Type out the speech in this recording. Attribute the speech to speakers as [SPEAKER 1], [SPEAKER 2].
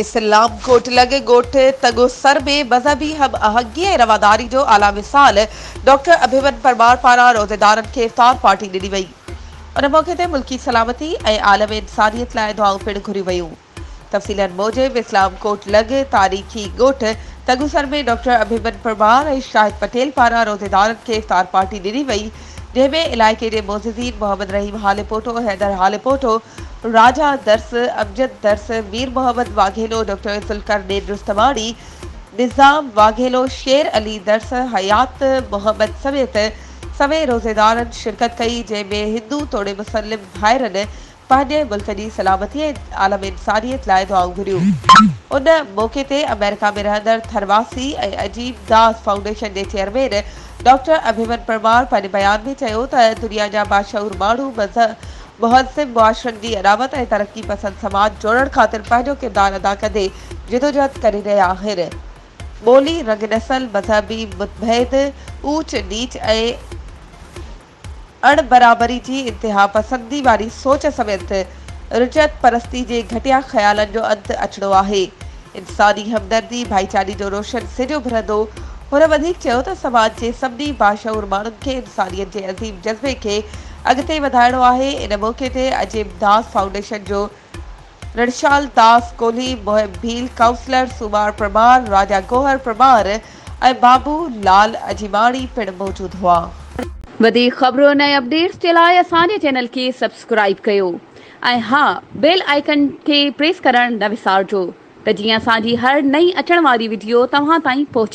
[SPEAKER 1] اسلام ڪوٽلڳ ڳوٺ تڳوسر ۾ مذهبي هم آهنگي ۽ رواداري جو اعليٰ مثال ڊاڪٽر اڀيمن پرمار پاران روزيدارن کي افطار پارٽي ڏني وئي. ان موقعي تي ملڪي سلامتي ۽ عالم انسانيت لاء دعائون پڻ گهريون ويون. تفصيلن موجب اسلام ڪوٽلڳ تاريخي ڳوٺ تڳوسر ۾ ڊاڪٽر اڀيمن پرمار ۽ شاهد پٽيل پاران روزيدارن کي افطار پارٽي ڏني وئي، ڊيوي علائقي جي معززين محمد رحيم هاليپوٽو، حيدر هاليپوٽو، راجا درس، امجد درس، مير محمد واگهيلو، ڊاڪٽر ذوالقرنين رستماڻي، نظام واگهيلو، شير علي درس، حيات محمد سميت سوين روزيدارن شرڪت ڪئي، جنهن ۾ هندو توڙي مسلم ڀائرن پنهنجي ملڪ جي سلامتي ۽ عالم انسانيت لاء دعائون گهريون. ان موقعي تي آمريڪا ۾ رهندڙ ٿرواثي ۽ عظيم داس فائونڊيشن جي چيئرمين ڊاڪٽر اڀيمن پرمار پنهنجي بيان ۾ چيو ته دنيا جا باشعور ماڻهو مهذب معاشرن جي اڏاوت ۽ ترقي پسند سماج جوڙڻ خاطر پنهنجو ڪردار ادا ڪندي جدوجهد ڪري رهيا آهن ٻولي رنگ نسل مذهبي متڀيد اوچ نيچ ۽ اڻ برابري جي انتها پسندي واري سوچ سميت رجعت پرستي جي گهٽيا خيالن جو انت اچڻو آهي. انساني همدردي ڀائيچاري جو روشن سج اڀرندو. هن وڌيڪ چيو ته سماج جي سڀني باشعور ماڻهن کي انسانيت جي عظيم جذبي کي اڳتي وڌائڻو آهي. ان موقعي تي عظيم داس فائونڊيشن جو رڻشال داس ڪولهي، محب ڀيل، ڪائونسلر سومار پرمار، راجا گوهر پرمار ۽ بابو لعل اجيماڻي پڻ موجود هئا. وڌيڪ
[SPEAKER 2] خبرن ۽ اپڊيٽس جي لاء اسان جي چينل کي سبسڪرائيب ڪيو ۽ ها بيل آئيڪن کي پريس ڪرڻ نه وسارجو ته جيئن اسان جي هر نئين اچڻ واري وڊيو توهان تائين پهچي سگهي.